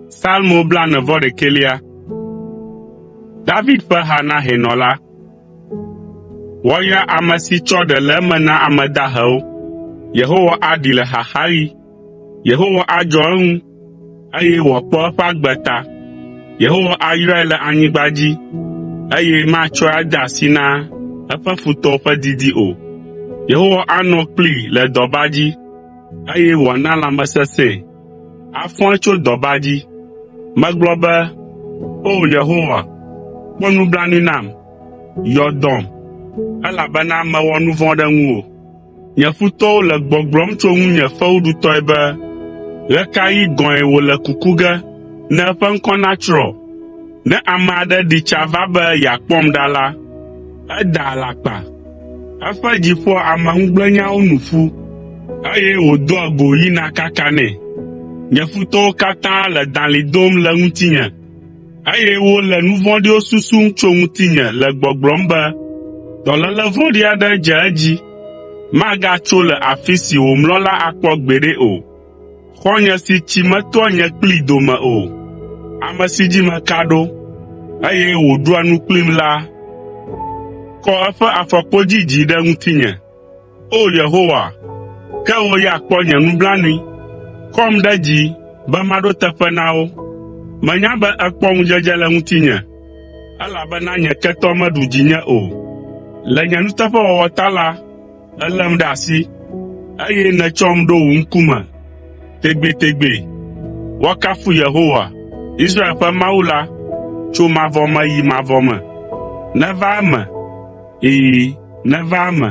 Salmo blaene-vɔ-ɖekɛlia. David ƒe ha na hɛnɔ la. Woayra ame si tsɔ ɖe le eme na ame dahewo. Yehowa aɖee le xaxaɣi. Yehowa adzɔ eŋu eye wòakpɔ eƒe agbe ta. Yehowa ayrae le anyigba dzi, eye matsɔe ade asi na eƒe futɔwo ƒe didi o. Yehowa anɔ kplii le dɔba dzi, eye wòana lãmesesẽe. Afɔe tso dɔba dzi. Megblɔ be, “O Yehowa, kpɔ nublanui nam, yɔ dɔm, elabena mewɔ nu vɔ̃ ɖe ŋuwò.” Nye futɔwo le gbɔgblɔm tso ŋunye fewuɖutɔe be, “Ɣe ka ɣi gɔ̃e wòle kuku ge ne eƒe ŋkɔ natsrɔ̃?” Ne ame aɖe ɖi tsa va be yeakpɔm ɖa la, edaa alakpa. Eƒe dzi ƒoa ameŋugblẽnyawo nu ƒu, eye wòdoa go yina kakanɛ. Nye futɔwo katã le dalĩ dom le ŋutinye. eye wole nu vɔ̃ɖiwo susum tso ŋutinye le gbɔgblɔm be, ‘Dɔléle vɔ̃ɖi aɖe dze edzi. Magatso le afi si wòmlɔ la akpɔ gbeɖe o. Xɔ̃nye si tsi metoa nye kplii dome o, ame si dzi meka ɖo, eye wòɖua nu kplim la, kɔ eƒe afɔkpodzi dzi ɖe ŋutinye.’ O Yehowa, ke wò ya kpɔ nye nublanui, kɔm ɖe dzi be maɖo teƒe na wo. Menya be èkpɔ ŋudzedze le ŋutinye, elabena nye ketɔ meɖu dzinye o. Le nye nuteƒewɔwɔ ta la, èlém ɖe asi, eye nètsɔm ɖo wò ŋkume tegbetegbe. Woakafu Yehowa, Israel ƒe Mawu la, tso mavɔ me yi mavɔ me. Neva eme! Ɛ̃, neva eme.